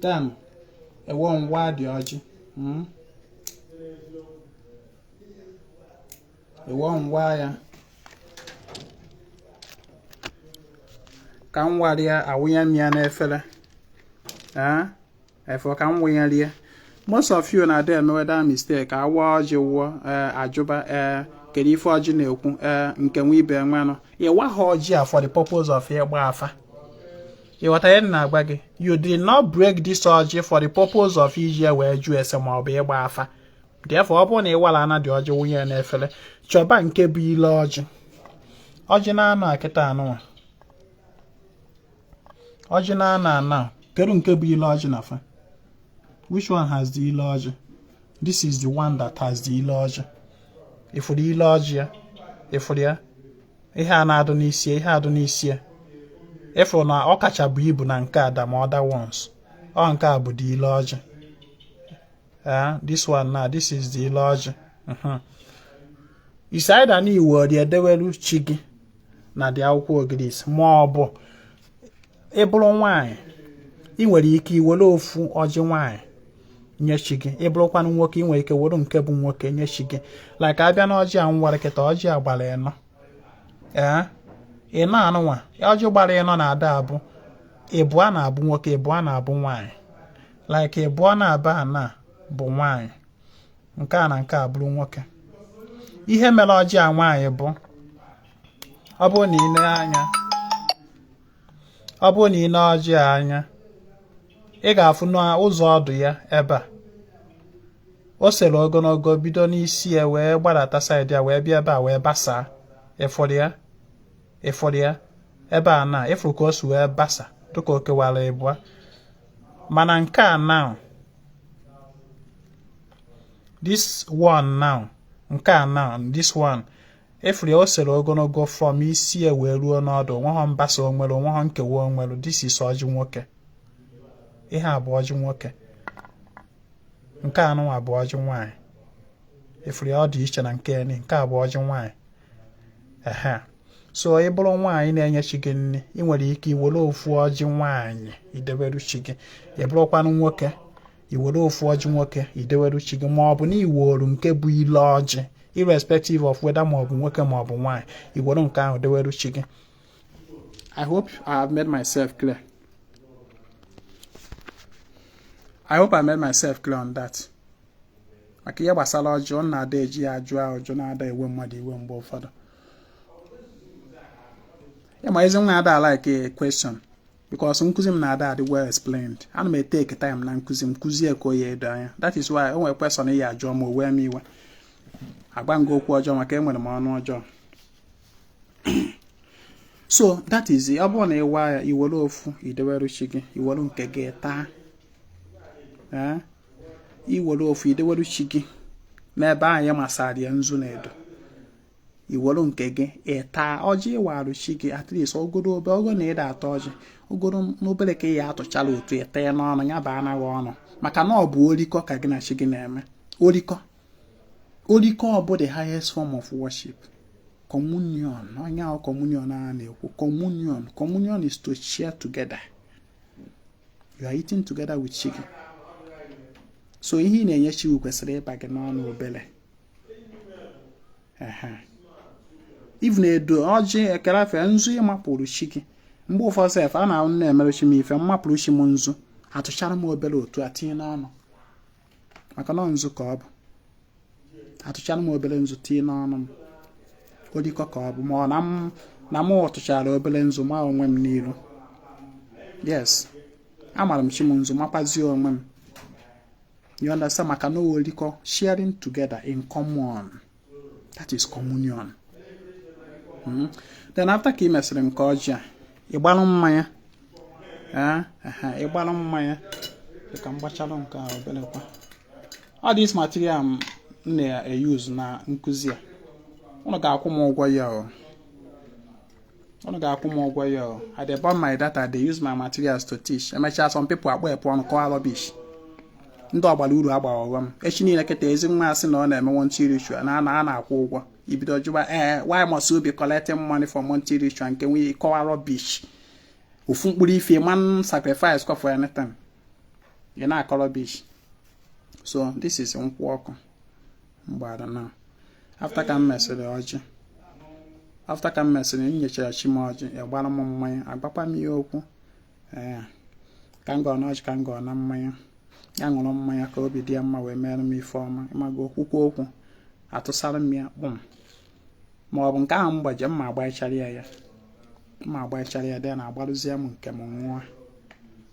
then ewee m waa the ọjị mm. ewee m waa ya ka m wara ya awụnye m ya n'efere ee efere ka m wụnyere ya most of you na-ada emewe that mistake awa ọjị wụọ ee ajụba ee kedu ife ọjị na-ekwu ee nke nwe ibe nwenụ ị waha ọjị a for the purpose of ịgba afa ịghọta ihe na-agwa gị you did not break this ọjị for the purpose of iji ya wee jụọ ese ma ọ bụ ịgba afa therefore ọ bụrụ na ịwala ana the ọjị wụnye ya n'efere chọba nke bụ ile ọjị ọjị na-anọ kịta anụnwa ọjị na ana ana kedu nke bụ ile ọjị na fa which one has the ile ọjị this is the one that has the ile ọjị ịfụrụ ile ọjị ya ịfụrụ ya ihe a na-adụ n'isi ihe a dụ n'isi ya ịfụrụ na ọ kacha bụ ibu na nke ada ma other ones ọ nke a bụ the ile ọjị Uh, this one now, this is the ile ọjị. Uh-huh. It's either na i were ya edewelu chi gị na the akwụkwọ ogirisi ma ọ bụ ịbụrụ nwaanyị ị nwere ike iwere ofu ọjị nwaanyị nye chi gị ịbụrụkwanụ nwoke ị nwere ike were nke bụ nwoke nye chi gị like abịa na ọjị a m wara kịta ọjị a gbara ịnọ ee ịnọ anụnwa ọjị gbara ịnọ na-ada abụ ịbụọ na-abụ nwoke ịbụọ na-abụ nwaanyị like ịbụọ nọ ebe a na-abụ nwaanyị nke a na nke a bụrụ nwoke ihe mere ọjị a nwaanyị bụ ọ bụrụ na ị nee anya ọ bụrụ na ị nee ọjị a anya ị ga-afụ n'ụzọ ọdụ ya ebe a o sere ogologo bido n'isi ya wee gbadata side ya wee bịa ebe a wee basaa ịfụrụ ya ịfụrụ ya ebe a na ịfụrụ ka o si wee basa dịka o kewara ịbụa mana nke a now this one now nke a now this one ị fụrụ ya o sere ogologo from isi ya wee ruo n'ọdụ o nweghọ mbasa o nwere o nweghọ nkewa o nwere this is ọjị nwoke ihe a bụ ọjị nwoke nke anụnwa bụ ọjị nwaanyị ị fụrụ ya ọ dị iche na nke eni nke a bụ ọjị nwaanyị ehen so ị bụrụ nwaanyị na-enye chi gị nri ị nwere ike iwere ofu ọjị nwaanyị ideberu chi gị ị bụrụkwanụ nwoke i were ofu ọjị nwoke ideweru chi gị ma ọ bụ na iworu nke bụ ile ọjị irrespective of whether ma ọ bụ nwoke ma ọ bụ nwaanyị i were nke ahụ deweru chi gị I hope I have made myself clear. I hope I made myself clear on that. maka ihe gbasara ọjị ọ na-ada eji ya ajụ ajụjụ na-ada ewe mmadụ iwe mgbe ụfọdụ ị ma Ezinwa ada like a question because nkụzi m na-ada adị well explained ana m etake time na nkụzi m kụzie ka o ya edo anya that is why o nwere question a ya ajụọ m o wee m iwe agwa m gị okwu ọjọọ maka enwere m ọnụ ọjọọ so that is it ọ bụrụ na ịwa ya iwere ofu ideweru chi gị iwere nke gị taa eh? iwere ofu ideweru chi gị n'ebe ahụ ị masara ya nzu na edo iweru nke gị ịta ọjị ị warụ chi gị at least ogoro obe ogo na ị da ata ọjị ogoro n'obere ka ị ya atụchala otu ịta ya n'ọnụ ya baanụ gị ọnụ maka na ọ bụ orikọ ka gị na chi gị na-eme orikọ orikọ ọ bụ the highest form of worship communion ọ nya bụ communion a na-ekwu communion communion is to share together you are eating together with chi gị so ihe ị na-enye chi gị kwesịrị ịba gị n'ọnụ obere even edo ọjị ekere afọ nzu ị mapụrụ chi gị mgbe ụfọdụ sef ọ na m na-emere chi m ife m mapụrụ chi m nzu atụchara m obere otu a tinye n'ọnụ maka na nzu ka ọ bụ atụchara m obere nzu tinye n'ọnụ m olikọ ka ọ bụ ma ọ na m atụchara obere nzu ma onwe m n'iru yes amara m chi m nzu makwazie onwe m You understand? Maka na ọ olikọ sharing together in common. That is communion. Hmm? Then after ka ị mesịrị nke ọjị a, ị gbalụ mmanya. Eh? Ị gbalụ mmanya. Ka m gbachalụ nke a obere kwa. All this material m na-euse na nkụzi a. Ụnụ ga-akwụ m ụgwọ ya o. unu ga-akwụ m ụgwọ ya I dey burn my data dey use my materials to teach emechaa some people akpọ ekwe ọnụ kọwa rubbish ndị ọgbara uru agbaghị ọghọm echi niile kịta Ezinwa asị na ọ na-eme monthly ritual na a na-akwụ ụgwọ i bido jụwa ee eh, why must you be collecting money for monthly ritual nke nwunye kọwa rubbish ofu mkpụrụ ife man sacrifice kwa for anything ị na-akọ rubbish so this is nkwụ ọkụ mgbada na after ka m mesịrị ọjị after ka m mesịrị m nyechara chi m ọjị ịgbara m mmanya agbakwa m ihe okwu ee ka m gọọ n'ọjị ka m gọọ na mmanya ya ṅụrụ mmanya ka obi dị ya mma wee mere m ife ọma ịmaga okwukwu okwu atụsara m ya kpụm ma ọ bụ nke ahụ m gbaje m agbachara ya ya m agbachara ya then agbarụzie m nke mụnwa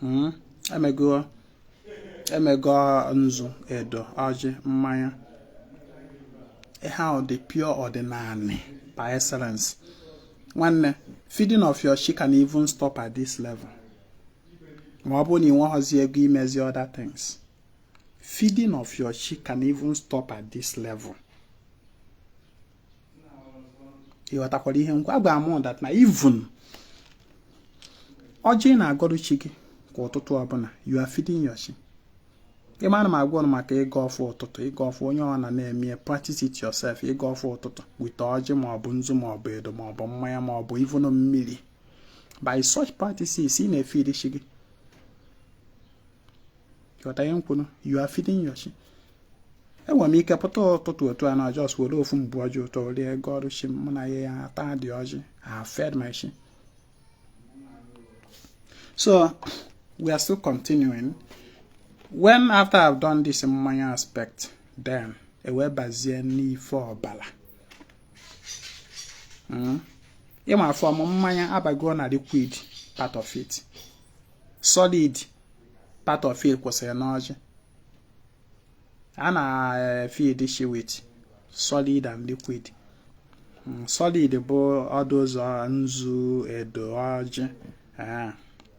hmm? emego emego nzu edo ọjị mmanya ihe ahụ dị pure ọdịnanị by excellence nwanne feeding of your chi can even stop at this level ma ọ bụrụ na ị nweghọzi ego imezi other things feeding of your chi can even stop at this level ị ghọtakwara ihe ngwa agwa m that na even ọjị ị na-agọrụ chi gị kwa ụtụtụ ọbụna you are feeding your chi ị ma na m agwa unu maka ịgọ ọfọ ụtụtụ ịgọ ọfọ onye ọ na na-eme practice it yourself ịgọ ọfọ ụtụtụ with ọjị ma ọ bụ nzu ma ọ bụ edo ma ọ bụ mmanya ma ọ bụ even mmiri by such practices ị na-efeed chi gị ghọta ihe m kwuru you are feeding your chi enwere m ike pụta ụtụtụ otu a na just were ofu mkpụrụ ọjị ụtọ rie gọọrụ chi mụ na ya ya ata the ọjị I've fed my chi so we are still continuing when after I've done this mmanya aspect then e wee bazie n'ife ọbala hmm? ị ma from mmanya abago na liquid part of it solid part of it kwụsịrị n'ọjị a na-feed chi with solid and liquid hmm, solid bụ all those nzu edo ọjị eh,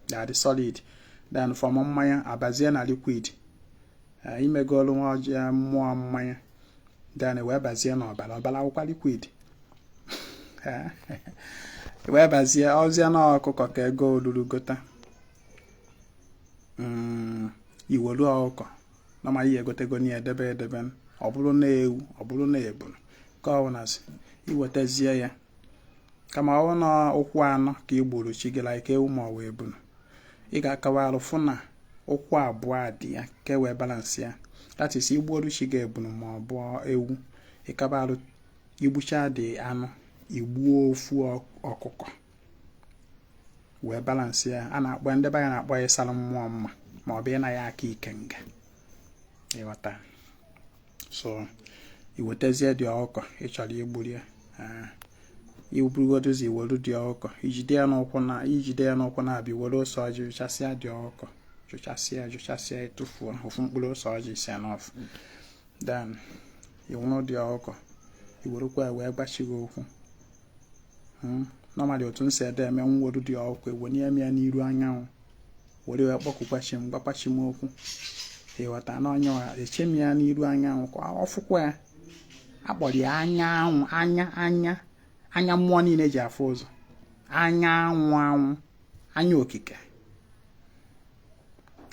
that is solid then from mmanya abazie na liquid eh, i megolu nwa ọjị mmụọ mmanya then i wee bazie n'ọbala ọbala bụkwa liquid wee bazie ọzịa na ọkụkọ ka ego olulu gota mm, i welu ọkụkọ na ma ihe egotego na edebe edebe ọ bụrụ na ewu ọ bụrụ na ebunu ka ọ bụlazi i wetazie ya kama ọ anụ ụkwụ anọ ka ị gburu chi gị like ewu ma ọ bụ ebunu ị ga-akawa arụ fụ na ụkwụ abụọ dị ya ka e wee balance ya that is igbuoru chi gị ebunu ma ọ bụ ewu ịkaba arụ igbucha the anụ igbuo ofu ọkụkọ wee balance ya a na-akpọ ndị be anyị na-akpọ ya ịsara mmụọ mma ma ọ bụ ịna ya aka ikenga ịghọta so iwetazie the ọkụkọ ị chọrọ igburu ya ah, iburugodo ụzọ iwere the ọkụkọ ijide ya n'ụkwụ na ijide ya n'ụkwụ na-abịa were ose ọjị jụchasịa the ọkụkọ jụchasịa jụchasịa ịtụfuo ofu mkpụrụ ose ọjị si ya n'ọfụ then i weru the ọkụkọ i werekwa ya wee gwa chi gị okwu hmm? normally otu m si adị eme m weru the ọkụkọ ewenye m ya n'iru anyanwụ were wee kpọkukwa chi m gwakwa chi m okwu ịghọta na onye ọha eche m ya n'iru anyanwụ ka ọ fụkwa ya akpọrọ ya anyanwụ anya anya anya mmụọ niile ji afụ ụzọ anya anwụ anwụ anya okike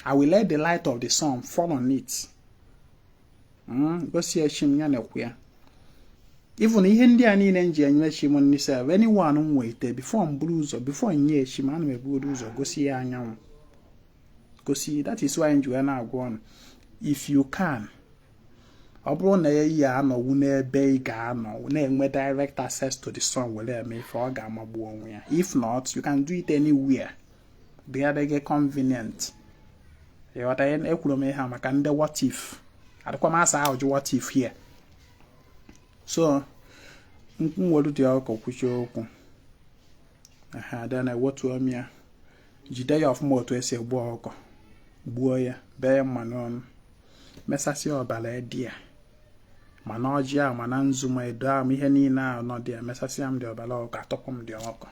I will let the light of the sun fall on it hmm, gosi ya chi m ya na-ekwu ya even ihe ndị a niile m ji enye chi m nri sef anyone m wete before m buru ụzọ before m nye chi m ana m ebugodo ụzọ gosi ya anyanwụ gosi that is why m ji wee na-agwa ụnụ if you can ọ bụrụ na ị ya-anọnwu n'ebe ị ga-anọ na-enwe direct access to the sun were eme ife ọ ga-amagbu onwe ya if not you can do it anywhere ebe dị gị convenient ịghọta ekwuru m ihe a maka ndị what if adịkwa m asa ajụjụ what if here so m weru the ọkụkọ kwuchaa okwu then ewetuo m ya jide ya ọfụma otu esi egbu ọkụkọ gbuo ya bee ya mma n'onu mesasịa ọbara dị ya ma na ọjị ahụ ma na nzu ma edo ahụ ihe niile ahụ nọ there emesasịa m the ọbara ọkụkọ atọpụ m the ọkụkọ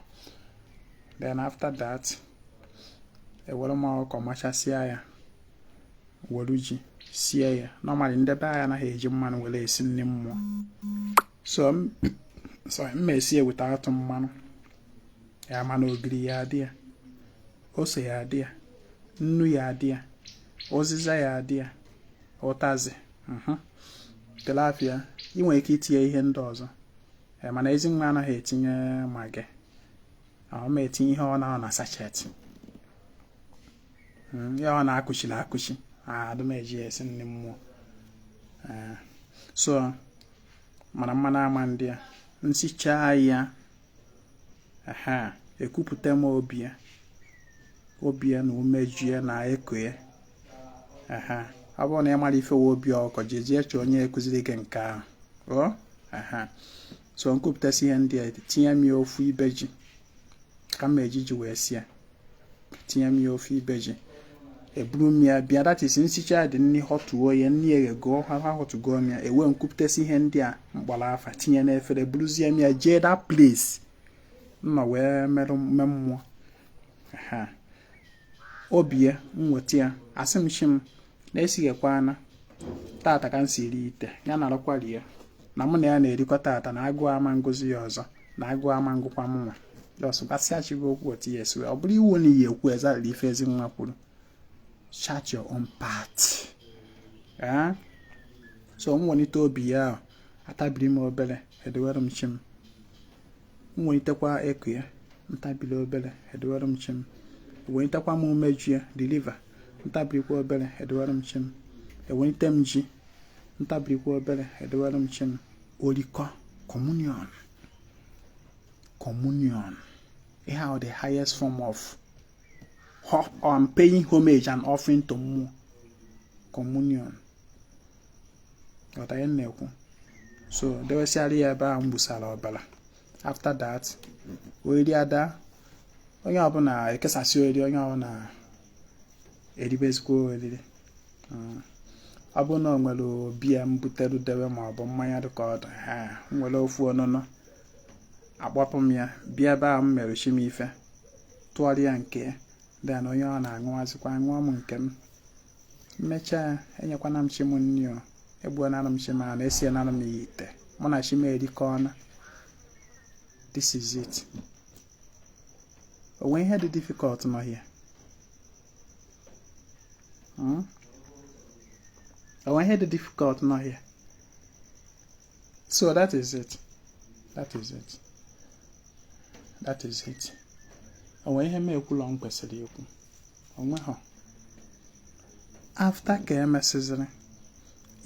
then after that ewere m ọkụkọ machasịa ya were ji sie ya normally ndị be anyị anaghị eji mmanụ were esi nri mmụọ so m ma esi ya without mmanụ ya mana ogiri ya adị ya ose ya adị ya nnu ya adị ya ụzịza ya adị ya ụtazị mhm. tilapia ị nwere ike itinye ihe ndị ọzọ eh, mana ezi nwa anaghị etinye Maggi ọ ma etinye ihe ọ na-anọ na sachet hmm, ihe ọ na-akụchiri akụchi adụ m eji ya esi nri mmụọ eh, so mana mmanụ ama adị ya m sichaa ya ehe ekupụta m obi ya obi ya na umeju ya na eko ya ehe ọ bụrụ na ị mara ife wụ obi ọkụkọ jejee chọọ onye kuziri gị nke ahụ o ehe so m kupụtasịa ihe ndị a etinye m ya ofu ibe ji ka m eji ji wee sie tinye m ya ofu ibe ji eburu m ya bịa that is m sichaa the nri họtụo ya nri eghegoo ahọtụgoo m ya ewee m kupụtasị ihe ndị a m kpọrọ afa tinye n'efere buruzie m ya jee that place m nọ wee merụ mme mmụọ ha ọ bịa m weta ya asị m chi m na-esighekwa ana tata ka m siiri ite ya narụkwa rie ya na mụ na ya na-erikọ tata na agụụ ama ngụzi ya ọzọ na agụụ ama ngụkwa m nwa just gwasịa chi gị okwu otu ya esi ọ bụrọ iwu na ị ya-ekwu exactly ife Ezinwa kwuru chart your own path eh? so m welite obi ya ahụ atabiri m obere edewere m chi m m welitekwa eko ya m tabiri obere edewere m chi m welitekwa m umeju ya the liver m tabirikwa obere edewere m chi m ewelite m ji m tabirikwa obere edewere m chi m orikọ communion communion ihe ahụ the highest form of um, paying homage and offering to mmụọ communion ghọta ihe m na-ekwu so dewesịara ya ebe a m gbusara ọbara after that oriri adaa onye ọbụla ekesasị oriri onye ọbụla eribezikwa oriri hmm. ọ bụrụ na ọ nwere beer m butere debe ma ọ bụ mmanya dịka ọ dị m were ofu ọṅụṅụ akpọpụ m ya bịa ebe a m mere chi m ife tụọrọ ya nke ya then onye ọbụna aṅụazịkwa ṅụọ m nke m m mechaa enyekwana m chi m nri o egbuonara m chi m anụ esienara m ya ite mụ na chi m erikọọna this is it o nwe ihe dị difficult nọ here hmm? o nwe ihe dị difficult nọ here so that is it that is it that is it o nwe ihe m ekwulọ m kwesịrị ikwu o nwehọ after ka emesịzịrị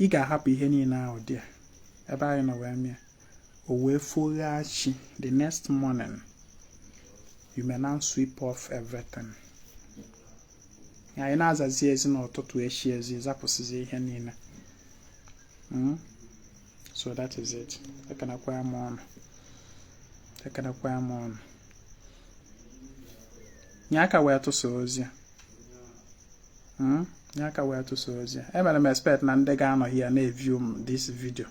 ị ga-ahapụ ihe niile ahụ dị ebe anyị nọ wee mee ya o wee foghaa chi the next morning you may now sweep off everything anyị na-azazi ezi n'ụtụtụ echi ezi zapụsịzi ihe niile hmm? so that is it ekenekwa m unu ekenekwa m unu nye aka wee tụsaa ozi hmm? nye aka wee tụsaa ozi a emere m expect na ndị ga-anọ ya na-eview m this video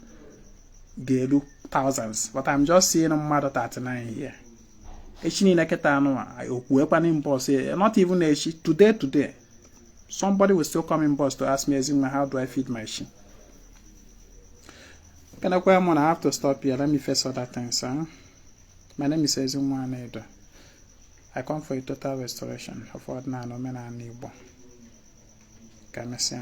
ga-eru thousands but I'm just seeing mmadụ 39 here echi niile kịta anụ okwuekwana inbox eh, not even echi today today somebody will still come inbox to ask me Ezinwa how do I feed my chi ekenekwa m unu I have to stop here let me face other things eh? my name is Ezinwa Anaedo I come for a total restoration of ọdịnala omenala Igbo. Ka emesịa